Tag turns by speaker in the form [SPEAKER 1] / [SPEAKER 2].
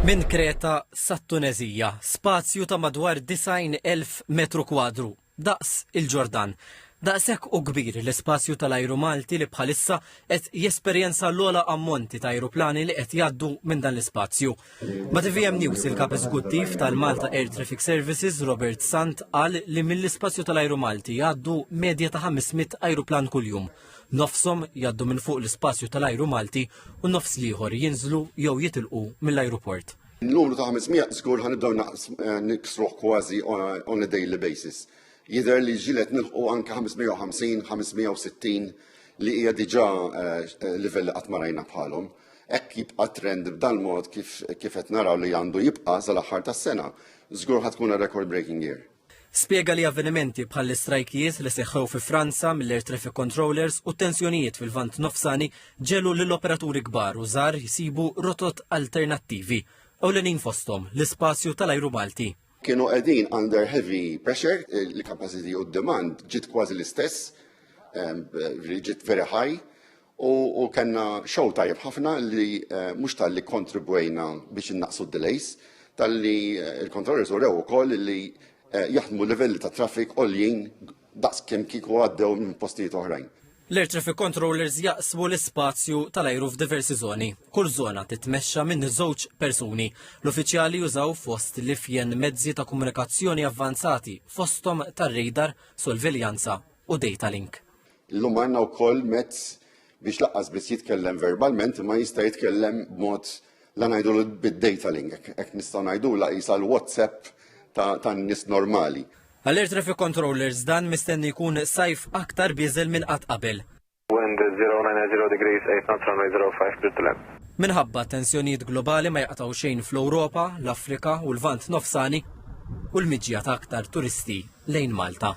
[SPEAKER 1] Minn Kreta
[SPEAKER 2] sat-Tuneżija, spazju ta' madwar 90,000 metru kwadru, daqs il-Ġordan. Daqshekk hu kbir l-ispazju tal-ajru Malti li bħalissa qed jesperjenza l-ogħla ammonti ta' ajruplani li qed jgħaddu minn dan l-ispazju. Ma' tvm News il-Kap Eżekuttiv tal-Malta Air Traffic Services, Robert Sant qal li mill-ispazju tal-ajru Malti jgħaddu medja ta' 500 ajruplan kuljum. Nofshom jgħaddu minn fuq l-ispazju tal-ajru Malti u nofs l-ieħor jinżlu jew jitilqu mill-ajruport. Numru ta' 500
[SPEAKER 3] żgur ħa nibdew niksruh kważi on a daily basis. Jidher li ġilet nilħqu anke 550, 560 li hija diġà eh, livell li qatt ma rajna bħalhom. Hekk jibqa' trend b'dan mod kif qed naraw li għandu jibqa' sal-aħħar tas-sena. Żgur ħad tkun record breaking year. Spjega li
[SPEAKER 2] avvenimenti bħall-istrajkijiet li seħħew fi Franza mill-air traffic controllers u t-tensjonijiet fil-Lvant Nofsani ġegħlu lil operaturi kbar u żgħar jsibu rotot alternattivi, ewlenin fosthom l-ispazju tal-ajru Malti. Kienu qegħdin
[SPEAKER 3] under heavy pressure, il-capacity u d-demand ġiet kważi l-istess, ġiet very high, U, u kellna xogħol tajjeb ħafna li eh, mhux tal-li kontribwejna biex innaqsu d-delays, tal-li eh, il-kontrollers urew ukoll li eh, jaħdmu livelli ta' traffic għoljin daqs kemm kieku għaddew minn postijiet oħrajn. L-air traffic
[SPEAKER 2] controllers jaqsmu l-ispazju tal-ajru f'diversi zoni. Kull zona titmexxa minn żewġ persuni. L-uffiċjali jużaw fost li fjen mezzi ta' komunikazzjoni avvanzati fosthom tar-radar, sorveljanza u data link. Illum għandna
[SPEAKER 3] wkoll mezz biex laqqas biss jitkellem verbalment imma jista' jitkellem b'mod la ngħidu bid-data link, hekk nistgħu ngħidulha qisha l-WhatsApp tan-nies normali. Għal Air Traffic
[SPEAKER 2] Controllers dan mistenni jkun sajf aktar bieżel minn qatt qabel. Wind 09 at 0
[SPEAKER 4] degrees, 8 knots runway 05 clear to land. Minħabba t-tensjonijiet
[SPEAKER 2] globali ma jaqtgħu xejn fl-Ewropa, l-Afrika u l-Lvant Nofsani u l-miġja ta' aktar turisti. lejn Malta.